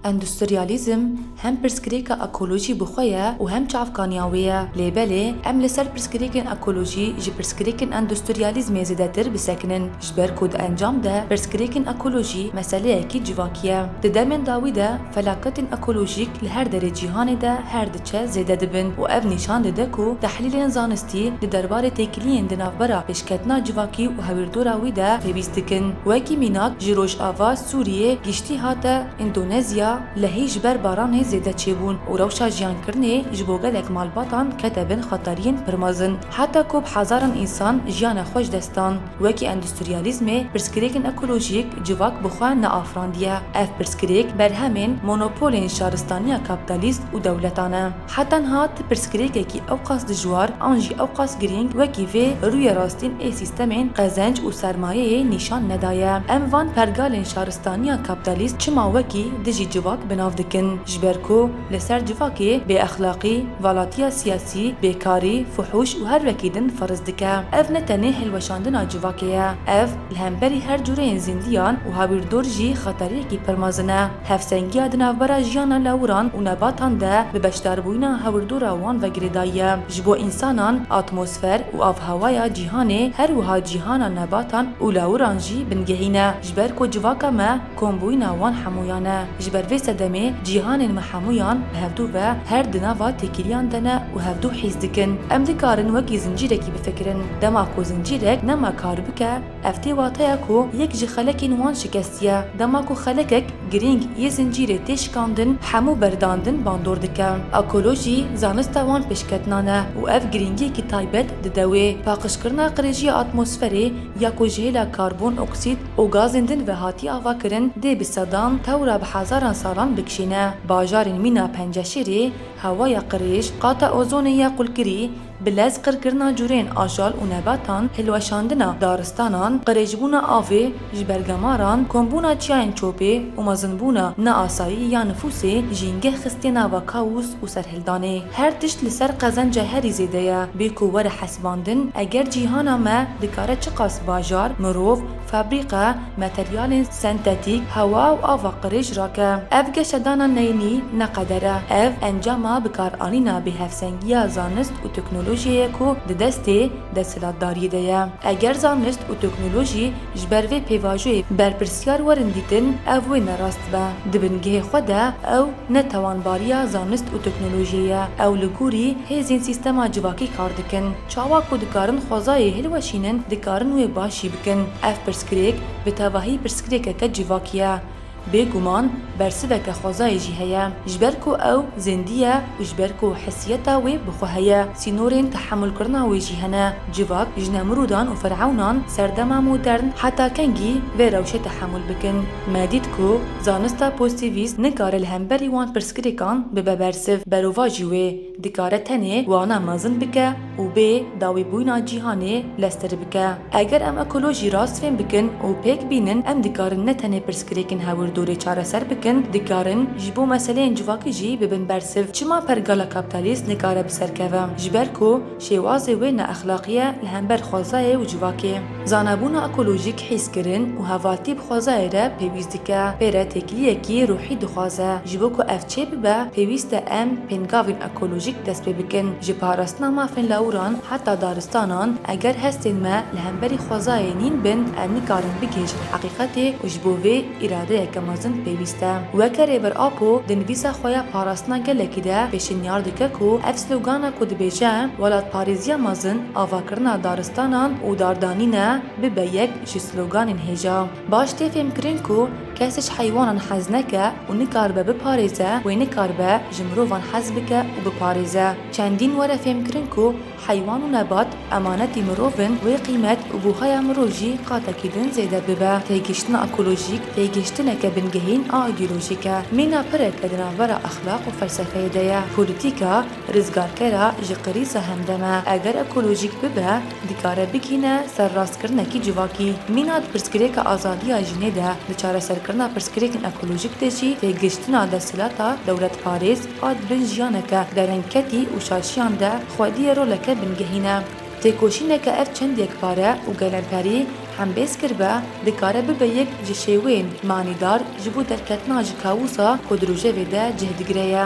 Endustriyalîzm hem pirsgirêka ekolojî bi xwe ye û hem çavkaniya wê ye. Lê belê em li ser pirsgirêkên ekolojî ji pirsgirêkên endustriyalîzmê zêdetir bisekinin ji ber ku di encam de pirsgirêkên ekolojî meseleyekî civakî ye. Di demên dawî de felaketên ekolojîk li her derê cîhanê de her çê zêde dibin û ev nîşan dide ku tehlîlên zanistî di derbarê têkiliyên di navbera pêşketina civakî û hewîrdora wî de pêwîst dikin. Wekî mînak ji Rojava, Sûriyê, giştî hate Îndonezya, lehî ji ber baranê zêde çêbûn û rewşa jiyankirinê ji bo gelek malbatan kete bin xeteriyên pir mezin. Heta ku bi hezaran însan jiyana xwe ji dest dan. Wekî endustriyalîzmê pirsgirêkên ekolojîk civak bi xwe neafirandiye. Ev pirsgirêk berhemên monopolên şaristaniya kapîtalîst û dewleta ne. He tenha ti pirsgirêkekî ewqas dijwar an jî ewqas girîng wekî vê rûyê rastîn ê sîstemên qezenc û sermayeyê nîşan nedaye. Em van pergalên şaristaniya kapîtalîst çima wekî dijî civak bi nav dikin? Ji ber ku. Li ser civakê bêexlaqî, valatiya siyasî, bêkarî, fuhûş û her wekî din ferz dike. Ev ne tenê hilweşandina civakê ye. Ev, li hemberî her cureyên zîndiyan û hawirdor jî xeteriyekî pir mezin e. Hevsengiya di navbera jiyana lawiran û nebatan de bi beşdarbûyina hawirdora wan ve girêdayî ye. Ji bo însanan, atmosfer û avhewaya cîhanê her wiha cîhana nebatan û lawiran jî bingehîn e. Ji ber ku civaka me, Kombûyîna wan hemûyan e. Ji ber vê sedemê cîhanên me hemûyan bi hevdu ve her di nava têkiliyan de ne û hevdu hîs dikin. Em dikarin wekî zincîrekî bifikirin. Dema ku zincîrek nema kar bike, ev tê wateya ku yek ji xelekên wan şikestiye. Dema ku xelekek girîng yê zincîrê tê şikandin, hemû berdandin bandor dike. Ekolojî zanista wan pêşketinan e û ev girîngiyekî taybet dide wê. Paqijkirina qirêjiya atmosferê ya ku ji hêla karbon oksîd, û gazên din ve hatiye avakirin dê bi sedan tewra bi hezaran salan bikişîne. Bajarên mîna penceşêrê, hewaya qirêj, qata ozonê ya qulkirî, bi lez qirkirina cureyên ajal û nebatan, hilweşandina daristanan, qirêjbûna avê ji ber gemaran, kombûna çiyayên çopê û mezinbûna neasayî ya nifûsê jîngeh xistiye nava kawûs û serhildanê. danê. Her tişt li ser qezenca herî zêde ye. Bê ku were hesibandin, eger cîhana me dikare çiqas bajar, mirov, fabrîke, materyalên sentetîk, hewa û ava qirêj rake. Ev geşedana neynî ne qeder e. Ev encama bikaranîna bêhevsengiya zanist û teknolojiyê ye ku di destê desthilatdariyê de ye. Eger zanist û teknolojî ji ber vê pêvajoyê berpirsyar werin dîtin, ev wê ne rast be. Di bingehê xwe de ew. ne tewanbariya zanist û teknolojiyê ye, ew li gorî hêzên sîstema civakî kar dikin. Çawa ku dikarin xwezayê hilweşînin dikarin wê baş jî bikin. Ev pirsgirêk bi tevahî pirsgirêkeke civakî ye. Bêguman bersiveke xwezayê jî heye. Ji ber ku ew zêndî ye û ji ber ku hesiyeta wê bi xwe heye. Sînorên tehemûlkirina wê jî hene. Civak ji Nemrûdan û Firewnan ser dema modern heta kengî vê rewşê tehemûl bikin? Me dît ku zanista pozîtîvîst nikare li hemberî wan pirsgirêkan bibe bersiv, berova jî wê dikare tenê wana mezin bike û bê dawîbûyina cîhanê lestr bike. Eger em ekolojî rast fêm bikin û pêk bînin em dikarin ne tenê pirsgirêkên hawirdorê çareser bikin, dikarin ji bo meseleyên civakî jî bibin bersiv. Çima pergala kaptalîst nikare bi ser keve? Ji ber ku şêwazê wê neexlaqî ye li hember xwezayê û civakê. Zanebûna ekolojîk hîskirin û hevaltî bi xwezayê re pêwîst dike. Pê re têkiliyekî ruhî dixwaze. Ji bo ku ev çêbibe pêwîst e em pêngavên ekolojîk dest pê bikin. Ji parastina mafên lawiran heta daristanan, eger hestên me li hemberî xwezayê nîn bin, em nikarin bigihîjin heqîqetê û ji bo vê îradeyeke mezin pêwîst e. Weke Rêber Apo di nivîsa xwe ya Parastina gelekî de pêşinyar dike ku ev slogana ku dibêje Welatparêziya mezin, avakirina daristanan û dardanîn e, bibe yek ji sloganên hêja. Baş tê fêmkirin ku kesê ji heywanan hez neke û nikaribe biparêze wê nikaribe ji mirovan hez bike û biparêze. Çendîn were fêmkirin ku heywan û nebat emanetî mirov in wê qîmet û buhaya mirov jî qatekî din zêde bibe. Têgihiştina ekolojîk têgihiştineke bingehîn a îdeolojîk e. Mîna pireke di navbera exlaq û felsefeyê de ye. Polîtîka rizgarkera ji qirîza hemdem e. Eger ekolojîk bibe, dikare bigihîne ser rastkirinekî civakî. Mîna di pirsgirêka azadiya jinê de, di çareserkirina pirsgirêkên ekolojîk de jî têgihiştina desthilata dewletparêz a di bin jiyaneke derengketî û şaşiyan de xwediyê roleke bingehîn e. Têkoşîneke ev çend yekpare û gelemperî hembêz kiribe, dikare bibe yek ji şêweyên manîdar ji bo derketina ji kawûsa ku di rojevê de cih digire ye.